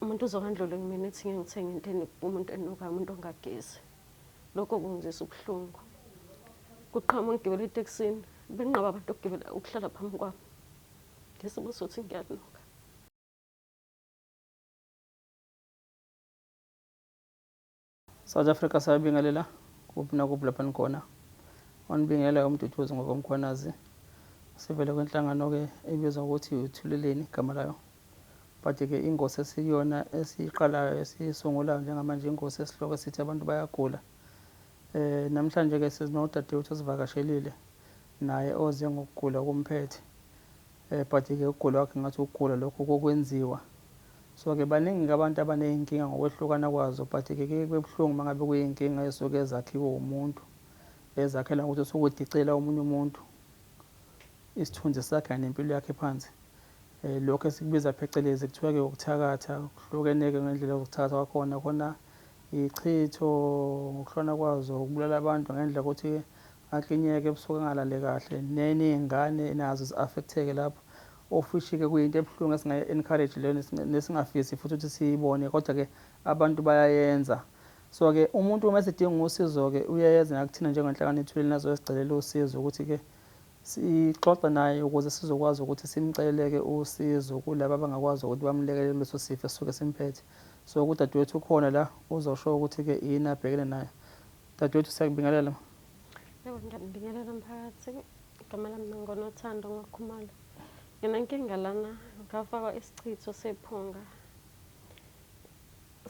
Umuntu uzokandlula kumina ethi ngeke ngithenge into enuka umuntu enukayo umuntu ongagezi. Lokho kungizisa ubuhlungu. Kuqhama ngigibela itekisini benqaba abantu ukugibela ukuhlala phambi kwami. Ngesimo sothi ngiyanuka. South Africa siyabingelela kuphi nakuphi lapha nikhona onibingela umduduzi ngokomkhwanazi sivele kwenhlangano ke ebizwa ukuthi uthuleleni igama layo but ke ingosi esiyona esiqalayo esisungulayo njengamanje ingosi esihloko esithi abantu bayagula eh namhlanje ke sizinodadewethu osivakashelile naye oze ngokugula okumphethe Eh but ke ukugula kwakhe ngathi ukugula lokho kokwenziwa. So ke baningi ke abantu abanezinkinga ngokwehlukana kwazo but ke ke kubuhlungu mangabe kuyizinkinga esuke ezakhiwe umuntu. Ezakhela ukuthi usukudicela omunye umuntu isithunzi sakhe nempilo yakhe phansi. Eh lokho esikubiza phecelezi kuthiwa ke ukuthakatha kuhlukene ke ngendlela yokuthakatha kwakhona khona ichitho ngokuhlona kwazo ukubulala abantu ngendlela ukuthi Aklinyeke ebusuku angalale kahle neningane nazo zi affecteke lapho ofishike kuyinto ebuhlungu esingayi encourage leyo nesingafisi futhi ukuthi siyibone kodwa ke abantu bayayenza so ke umuntu uma esedinga usizo ke uyeza nakuthina njengenhlangano ethulile nazoyosicelela usizo ukuthi ke sixoxe naye ukuze sizokwazi ukuthi simceleleke usizo kulaba abangakwazi ukuthi bamlekelele kuleso sifo esisuke simphethe so kudadewethu ukhona la uzosho ukuthi ke yini abhekene nayo Dadewethu siyakubingelela. Yebo ngiyakubingelela mphakathi. Igama lami Mangonothando Ngokhumalo. Nginenkinga lana ngafakwa isichitho sephunga.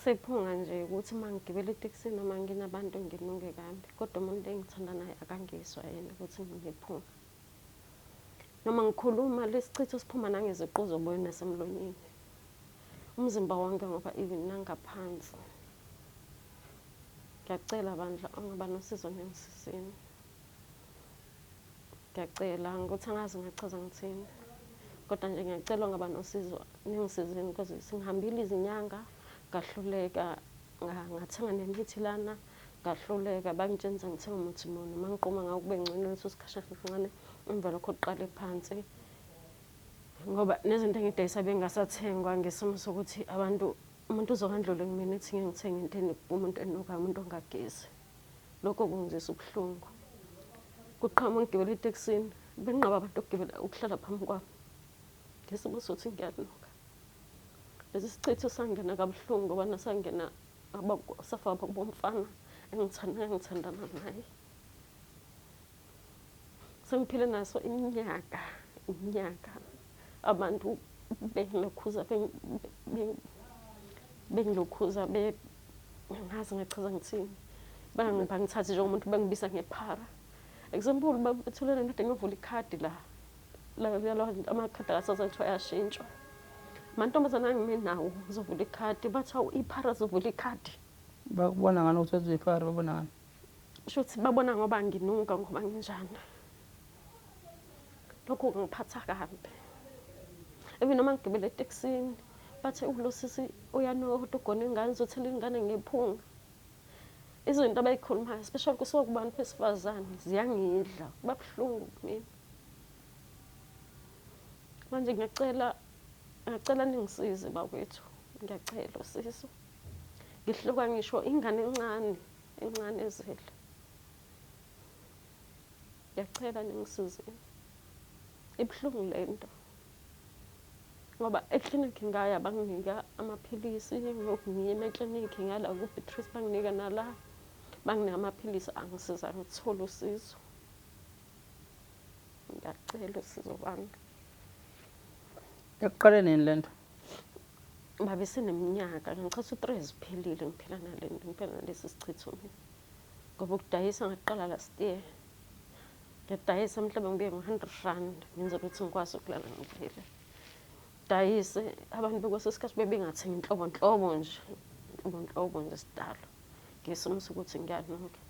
Sephunga nje ukuthi uma ngigibela itekisi noma nginabantu nginuke kambi. Kodwa umuntu engithanda naye akangizwa yena ukuthi nginephunga. Noma ngikhuluma lesichitho siphuma nangeziqu zoboya nasemlonyeni. Umzimba wonke ngoba even nangaphansi. Ngiyacela bandla ongaba nosizo ngengisizeni. Ngiyacela ngokuthi angazi ngachaza ngithini. Kodwa nje ngiyacela ongaba nosizo ningisizeni because singihambile izinyanga ngahluleka ngathenga nemithi lana Ngahluleka, bangitshengisa ngithe umuthi muni, uma ngiquma ngawo kube ngcono leso sikhashana kancane, emva lokho kuqale phansi ngoba nezinto engidayisa bengasathengwa ngesimo sokuthi abantu umuntu uzokandlule kumina ethi ngeke ngithenge into enuka umuntu enukayo umuntu ongagezi lokho kungizisa ubuhlungu kuqhamuka ngigibela etekisini benqaba abantu ukugibela ukuhlala phambi kwami ngesimo sokuthi ngiyanuka lesi sichitho sangena kabuhlungu ngoba nasangena abakosafaba bomfana engithandana naye sengiphile naso iminyaka iminyaka abantu bengilokhuza bengilokhuza ngazi ngachaza ngithini bangithathe njengomuntu bangibiza ngephara example bathulele kade ngovula ikhadi la amakhadi akasoze kuthiwa ayashintshwa mantombazana angime nawo uzovula ikhadi bathi awu iphara zovula ikhadi bakubona ngani ukuthi wenza iphara babona ngani sho ukuthi babona ngoba nginuka ngoba nginjani lokho kungiphatha kabi even noma ngigibele etekisini bathe ulo sisi uyanuka kodwa ugona ingane uzothela ingane ngephunga izinto abayikhulumayo especially kusuka kubantu besifazane ziyangidla kuba buhlungu kumina manje ngiyacela ngiyacela ningisize bakwethu ngiyacela usizo ngihluka ngisho ingane encane encane ezele ngiyacela ningisizeni ibuhlungu le nto ngoba eklinikhi ngaya banginika amaphilisi ngiyima eklinikhi ngala kubeatrice banginika nala banginika amaphilisi angisiza ngithole usizo ngiyacela usizo bami ekuqale nini le nto baba iseneminyaka ngichitha u-three ziphelile ngiphila nale nto ngiphila nalesi sichitho mina ngoba ukudayisa ngaqala last year ngiyadayisa mhlawumbe ngibuye ngo-hundred rand ngenza ukuthi ngikwazi ukulala ngidlile dayise abantu bekweso sikhathi bebengathengi inhlobonhlobo nje inhlobonhlobo nje sidalo ngesimo sokuthi ngiyanuka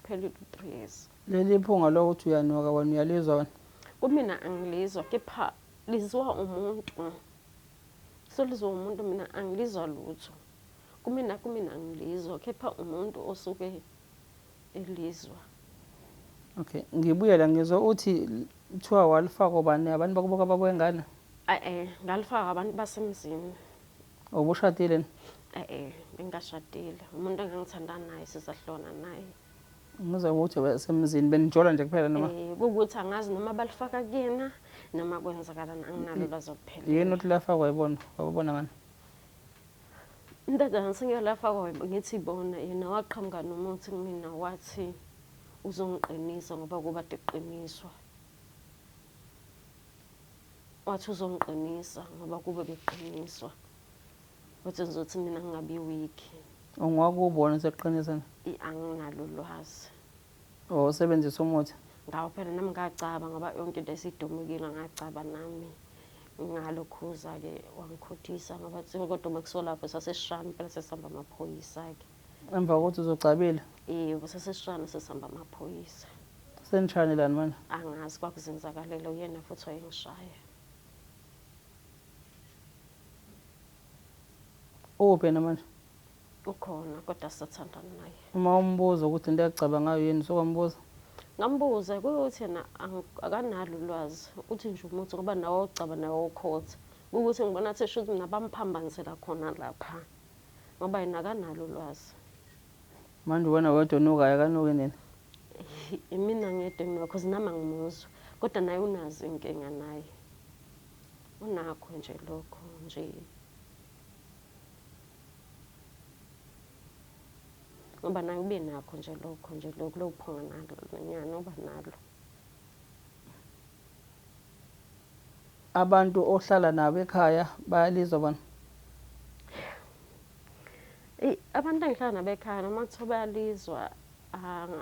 Phelile u-three years. Leli phunga lokuthi uyanuka wena uyalizwa wena? Kumina angilizwa kepha lizwa umuntu. Solizwa umuntu mina angilizwa lutho. Kumina kumina angilizwa kepha umuntu osuke elizwa. Okay, ngibuye la ngizwa uthi kuthiwa walifaka obani? Abantu bakubo kabakwengane? Eh, ngalifaka abantu basemzini. Ubushadile ni? E-e, bengikashadile. Umuntu engangithanda naye sizahlona naye. Ngizwa ukuthi wasemzini benijola nje kuphela noma? Eh, kuwukuthi angazi noma balifaka kuyena noma kwenzakalani anginalo ulwazi oluphelele. Yini othi lafakwa yibona? Wababona ngani? Indodana sengiyolafakwa web- ngithi bona yena waqhamuka nomuthi kumina wathi uzongiqinisa ngoba kuba deqiniswa. wathi uzongiqinisa ngoba kube bekuqiniswa wathi ngizothi mina ngingabi wiki ungwakubona seqinisa anginalo ulwazi oh usebenzisa umuthi ngawo phela nami ngacaba ngoba yonke into esidumukile ngacaba nami ngalo khuza-ke wangikhothisa ngoba kodwa uma kusolapho sasesishami phela sesihamba amaphoyisa-ke Emva kokuthi uzogcabile? Iye, kusesesishane sesihamba amaphoyisa. Senishane lani manje? Angazi kwakuzenzakalela uyena futhi wayengishaya. Ukuphi yena manje? Ukhona kodwa sisathandana naye. Uma umbuza ukuthi into yacaba ngayo yini sokwambuza? Ngambuza kuyothi yena akanalo ulwazi. Uthi nje umuthi ngoba nawe wawucaba nawe wawukhotha. Kuwukuthi ngibona athi shuthi nabamuphambanisela khona lapha. ngoba yena akanalo ulwazi manje uwena wedwa onukayo akanuki nina imina ngedwa nginuka cause nami angimuzwa kodwa naye unazo inkinga naye unakho nje lokho nje ngoba naye ube nakho nje lokho nje lokho lokuphonga nalo nyana uba nalo Abantu ohlala nabo ekhaya bayalizwa bona? Eyi abantu engihlala nabo ekhaya noma kuthiwa bayalizwa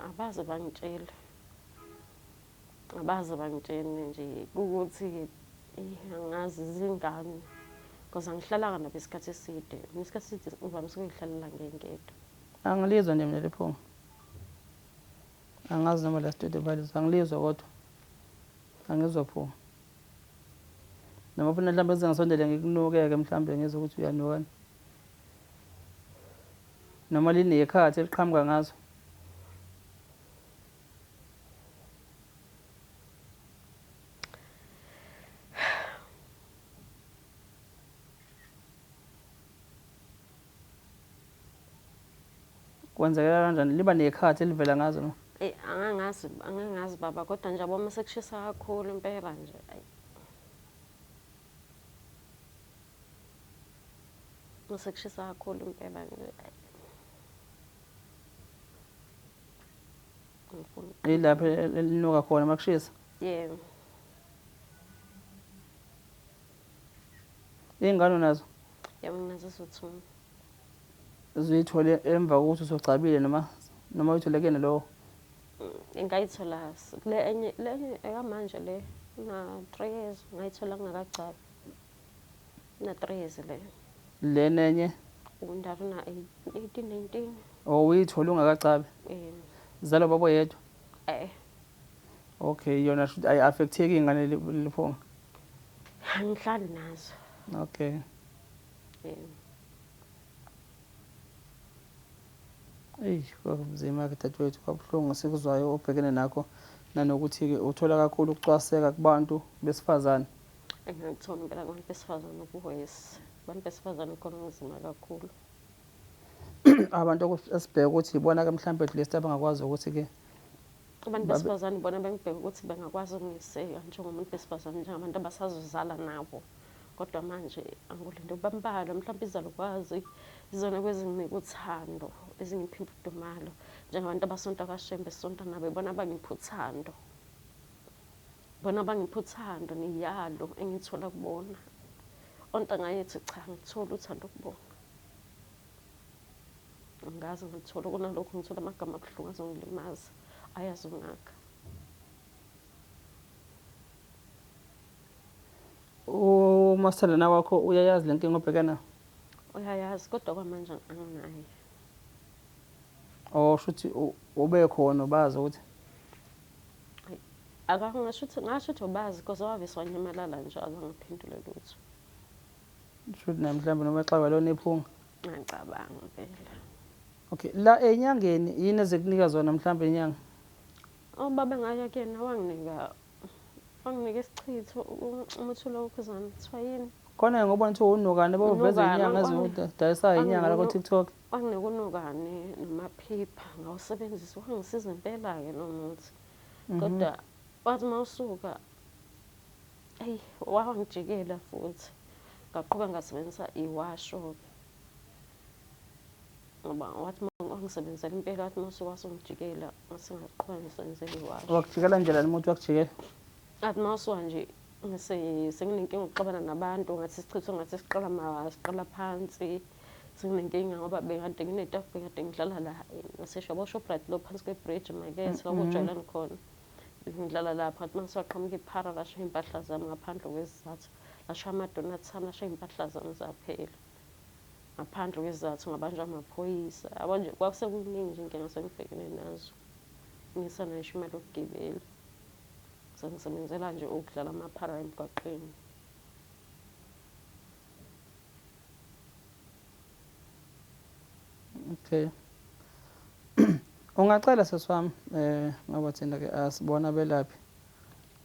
abaze bangitshele. Abaze bangitshele nje kukuthi angazi zingane because angihlalanga nabo isikhathi eside. Mina isikhathi eside ngivamise ukuyihlalela ngingedwa. Angilizwa nje mina leli phunga. Angazi noma la studio balisa ngilizwa kodwa angizwa pho. Noma ufuna mhlawumbe kuze ngisondele ngikunuke-ke mhlawumbe ngizwe ukuthi uyanukani. Noma linekhathi eliqhamuka ngazo. Kwenzekela kanjani? Liba nekhathi elivela ngazo no? Eyi angangazi angangazi baba kodwa nje yabo uma sekushisa kakhulu impela nje. Ayi. Uma sekushisa kakhulu impela nje. Ayi. Ngifuna. Yilapho elinuka khona makushisa. Yebo. Iy'ngane unazo? Yebo nginazo eziwu-two. Zuyithole emva kokuthi usugcabile noma noma uyithole kuyena lowo? Mm, ngayithola kule enye le enye ekamanje le na-three years ngayithola ngingakagcabi. Na-three years le. Lena enye? Undala una-eighteen, nineteen. Oh, uyithole ungakagcabi? Yebo. Zalo baba oyedwa? Eh, Okay yona shuthi ayi affecteki ingane liphonga. Angihlali nazo. Okay. Yeah. Eyi kwakunzima ke dadewethu kwabuhlungu esikuzwayo obhekene nakho nanokuthi-ke uthola kakhulu ukucwaseka kubantu besifazane engangithola impela kubantu besifazane ukuhoyes abantu besifazane khona kunzima kakhulu abantu esibheke ukuthi ibona-ke mhlawumbe at least abangakwazi ukuthi-ke abantu besifazane bona bengibheka ukuthi bengakwazi ukungiseka njengomuntu besifazane njengabantu abasazozala nabo kodwa manje angulinde ukuba mbalwa mhlawumbe izalukwazi izona kwezinginika uthando ezingipha imfudumalo njengabantu abasonta kashembe esonta nabo ibona abangipha uthando bona abangipha uthando niyalo engithola kubona ontanga yethu cha ngithola uthando kubona Angikaze ngithole kunalokhu ngithole amagama abuhlungu azongilimaza ayazungaka. Umaselana wakho uyayazi le nkinga obheka nayo? Uyayazi kodwa kwamanje anginaye. Oh shuthi ube khona ubazi ukuthi akangasho ukuthi ngasho ukuthi ubazi because waviswa nyamalala nje akangiphendule lutho. Shuthi naye mhlawumbe noma exakwa lona ephunga. Ngiyacabanga vele. Okay, la enyangeni yini ezekunika zona mhlawumbe inyanga? Ubaba ngaya kuyena wanginika wanginika isichitho umuthi lo ukhuzana kuthiwa yini? Khona ngobona ukuthi unukane boveza inyanga ezidayisayo inyanga lakho TikTok. Wanginika unukane namaphipha ngawusebenzisa wangisiza impela ke lo muthi. Kodwa wathi mawusuka Eyi wangijikela futhi ngaqhuba ngasebenzisa iwashoke ngoba wathi wangisebenzela impela wathi uma usuwasungijikela ngasingaqhuba ngisebenzela iwasho wakujikela njela noma uthi wakujikela athi uma usuwa nje senginenkinga ukuxabana nabantu ngathi sichithe ngathi siqala siqala phansi senginenkinga ngoba bekade nginetafula bekade ngidlala la ngasesho yabo shoprite lo phansi kwebridge makethe mm-hmm. wakujwayelani khona Ngihlala lapha ngathi mangithiwa qhamuka iphara lasho iy'mpahla zami ngaphandle kwesizathu. Lasho ama-donuts ami, lasho iy'mpahla zami zaphela. Ngaphandle kwesizathu ngabanjwa amaphoyisa. Yabo nje kwasekuningi nje iy'nkinga esengibhekene nazo. Ngingesayo ngisho imali yokugibela. Sengisebenzela nje ukudlala amaphara emgwaqeni. Okay. Ungacela sesi wami eh ngoba thina ke asibona belaphi.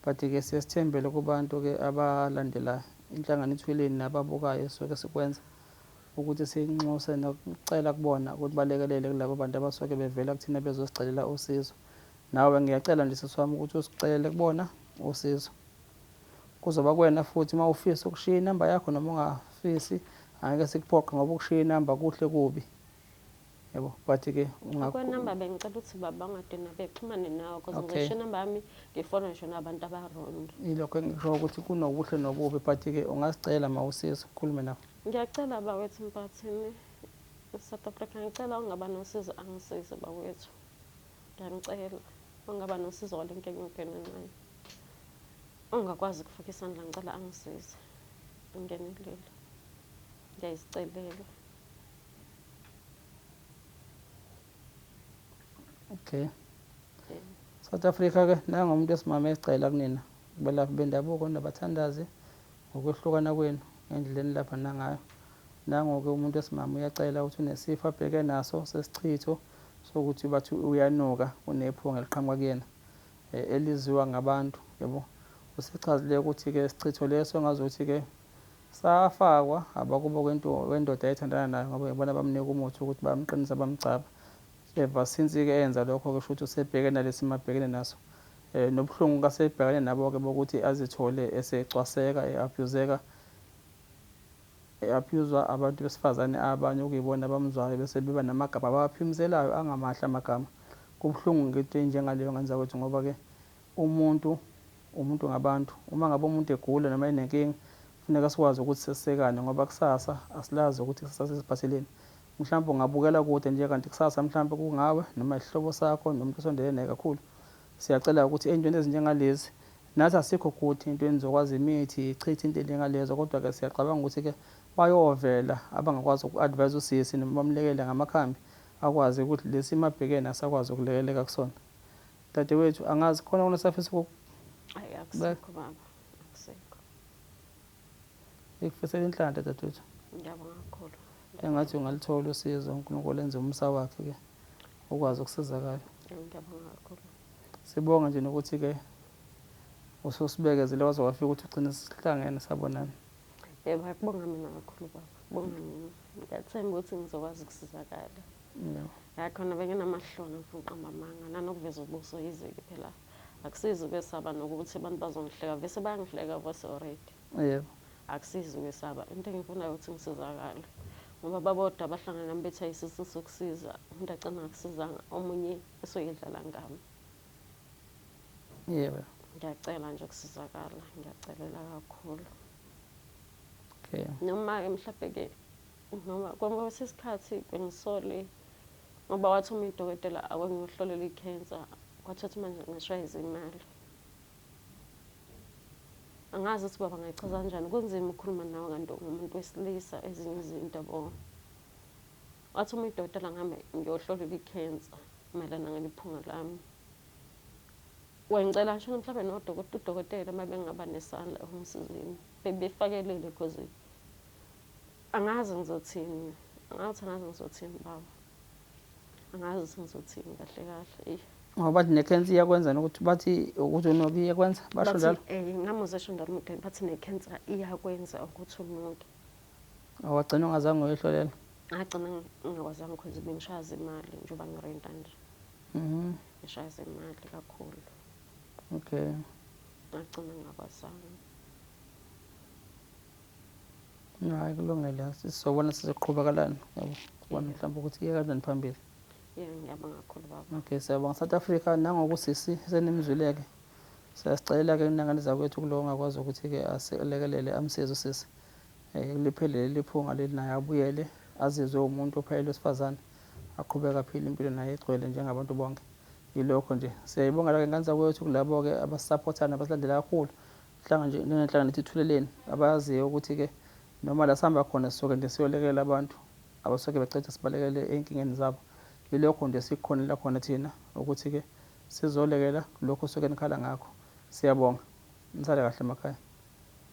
But ke siyesithembele kubantu ke abalandela inhlangano ithwileni nababukayo soke sikwenza ukuthi sinxuse nokucela kubona ukuthi balekelele kulabo bantu abasuke bevela kuthina bezosicelela usizo. Nawe ngiyacela nje sesi wami ukuthi usicelele kubona usizo. Kuzoba kuwena futhi uma ufisa ukushiya inamba yakho noma ungafisi angeke sikuphoqe ngoba ukushiya inamba kuhle kubi yebo but ke akwenamba bengicela ukuthi baba ungadina bexhumane nawe because okay. ngisho inamba yami ngifona ngisho nabantu abarong ilokho engisho ukuthi kunokuhle nokubi but ke ungasicela ma usiza ukhulume nabo ngiyacela bawethu mpathini south africa ngicela ungaba nosizo angisize bawethu Ngiyanicela ongaba nosizo wale nkinga ingene encane. Ongakwazi ukufaka isandla ngicela angisize. Ngingenelele. Ngiyayizicelela. Okay. Yeah. South Africa ke nanga umuntu esimama ecela kunina belaphi bendabuko nabathandazi ngokwehlukana kwenu ngendleleni lapha nangayo nangoke umuntu esimama uyacela ukuthi unesifo abheke naso sesichitho sokuthi bathi uyanuka unephunga eliqhamuka kuyena eliziwa ngabantu yabo usechazile ukuthi ke sichitho leso engazuthi ke safakwa abakubo wendoda ayethandana nayo ngoba yibona bamnika umuthi ukuthi bamqinisa bamgcaba ever since ke enza lokho ke shuthi usebheke nalesi mabhekene naso eh nobuhlungu kasebhekane nabo ke bokuthi azithole esecwaseka eabuseka E-abhuyuzwa abantu besifazane abanye okuyibona abamuzwayo bese beba namagama abawaphimzelayo angamahle amagama. Kubuhlungu ngento enjengaleyo ngenza kwethu ngoba ke umuntu umuntu ngabantu. Uma ngabe umuntu egula noma enenkinga kufuneka sikwazi ukuthi sesekane ngoba kusasa asilazi ukuthi ikusasa lisiphatheleni. Mhlampe ungabukela kude nje kanti kusasa mhlampe kungawe noma isihlobo sakho noma umuntu osondelene naye kakhulu. Siyacela ukuthi eyntweni ezinjengalezi Nathi asikho kuth into enizokwazi imithi ichithe into enjengalezo kodwa ke siyacabanga ukuthi ke bayovela abangakwazi uku advise usisi noma bamlekele ngamakhambi akwazi ukuth lesimo abhekene asakwazi ukulekeleka kusona dadewethu angazi khona okunye esafisa ukuk Ayi akusekho baba akusekho. Ngikufisela inhlanhla dadewethu. Ngiyabonga kakhulu. Engathi ungaluthola usizo uNkulunkulu enze umsa wakhe ke ukwazi ukusizakala. Ngiyabonga kakhulu. Sibonge nje nokuthi ke ususibekezile waze wafika ukuthi ugcine sihlangene sabonana. Yebo akubonga mina kakhulu baba. Bonga mina. Ngiyathemba ukuthi ngizokwazi ukusizakala. Yebo. Ya khona benginamahloni ngifuna uqamba amanga nanokuveza ubuso yizike phela. Akusizi ukwesaba nokuthi abantu bazongihleka vese bayangihleka vose already. Yebo. Akusizi ukwesaba into engifunayo ukuthi ngisizakale. Ngoba babodwa abahlangana nami bethi ayisiso sokusiza umuntu agcina ngakusizanga omunye Usuyidlala ngami. Yebo. Ngiyacela nje ukusizakala, ngiyacelela kakhulu. Okay. Noma ke mhlawumbe ke noma konke kwesikhathi bengisole ngoba wathi uma idokotela akwengiyohlolela i-cancer kwathatha manje ngashaya izimali angazi ukuthi baba ngayichaza kanjani kunzima ukukhuluma nawe kanti ungumuntu wesilisa ezinye izinto yabo Wathi uma idokotela ngihambe ngiyohlolelwa ikhensa mayelana ngeliphunga lami. Wengicela ngisho mhlawumbe nodokotela udokotela uma bengaba nesandla ekungisizeni bebefakelele because angazi ngizothini angathi angazi ngizothini baba angazi ukuthi ngizothini kahle kahle eyi ngoba bathi nekhensa iyakwenzani ukuthi bathi ukuthi unoke iyakwenza basho njalo um eh, ngamuzesho ndamude bathi nekhensa iyakwenza ukuthi unoke Oh, wagcina ungazange uyohlolela? Ngagcina ngingakwazanga because bengishaya zemali njengoba ngirenta nje. Mhm. Ngishaya zemali kakhulu. Okay. Ngagcina ngingakwazanga. Hayi kulungile. Sizobona sizoqhubakalana. Yabo. Sibona mhlawumbe ukuthi iye kanjani phambili. Yeah, ngiyabonga kakhulu baba. Okay, siyabonga South Africa nangokusisi senimzwileke. Siyasicela ke inangane zakwethu kulowo ongakwazi ukuthi ke asilekelele amsize usisi. Eh, liphele leli phunga leli naye abuyele azizwe umuntu ophelele wesifazane aqhubeke aphile impilo naye egcwele njengabantu bonke yilokho nje siyayibongela ke ngane zakwethu kulabo ke abasisapothayo nabasilandela kakhulu hlanga nje njengenhlanga nithi thuleleni abayaziyo ukuthi ke noma la sihamba khona sisuke nje siyolekelela abantu abasuke becethe sibalekele enkingeni zabo yilokho nje sikukhonela khona thina ukuthi ke sizolekela lokho suke nikhala ngakho siyabonga nisale kahle emakhaya